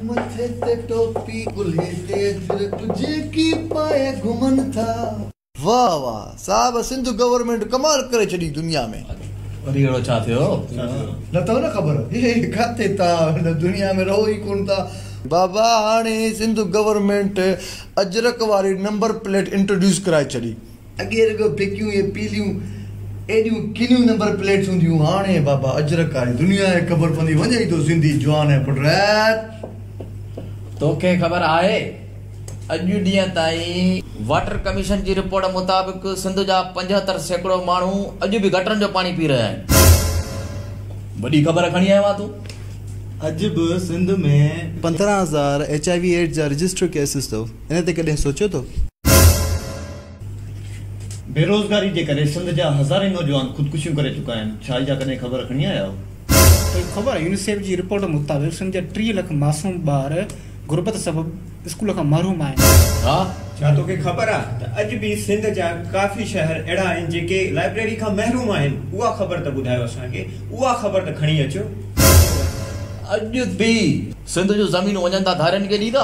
مٿي تي ٽوپي ڪلهي تي اجر ڪجهه ڪي پائي گهمن ٿا. واه واه صاحب سنڌ گورنمينٽ ڪمال ڪري ڇڏي دنيا ۾. وري اهڙو ڇا ٿيو نه اٿو نه خبر هي ڪاٿي ٿا هن دنيا ۾ رهو ئي ڪون ٿا. بابا هاڻي سنڌ گورنمينٽ اجرڪ واري نمبر پليٽ انٽروڊيوس ڪرائي ڇڏي. اڳي رڳو ڦڪيون ۽ پيليون ايڏيون ڪنيون نمبر پليٽس هونديون هاڻ اي بابا اجرڪ آهي دنيا کي خبر پوندي وڃ ايندو سنڌي جوان ۽ پٽريت. توکي خبر آهي اڄ ڏينهن تائين واٽر ڪميشن جي رپورٽ مطابق سنڌ جا پنجهتر سيڪڙو ماڻهو اڄ به گٽرن جو پاڻي پي رهيا آهن وڏي خبر کڻي آيو آهين تون اڄ به سنڌ ۾ پندرهن هزار ايچ آء وي ايڊز جا رجسٽر ڪيسز اٿو. ان تي ڪڏهن سوچيو ٿو؟ بيروزگاري جي ڪري سنڌ جا هزارين نوجوان خودڪشيون ڪري چڪا آهن، ڇا اها ڪڏهن خبر کڻي آيا آهيو؟ خبر، يونيسيف جي رپورٽ مطابق سنڌ جا ٽيهه لک معصوم ٻار غربت سبب اسڪول کان محروم آهن. ها! ڇا توکي خبر آهي ته اڄ به سنڌ جا ڪافي شهر اهڙا آهن جيڪي لائبريري کان محروم آهن؟ اها خبر ته ٻڌايو اسان کي، اها خبر ته کڻي اچو. اڄ به سنڌ جون زمينون وڃن ٿا ڌارين کي ڏيندا؟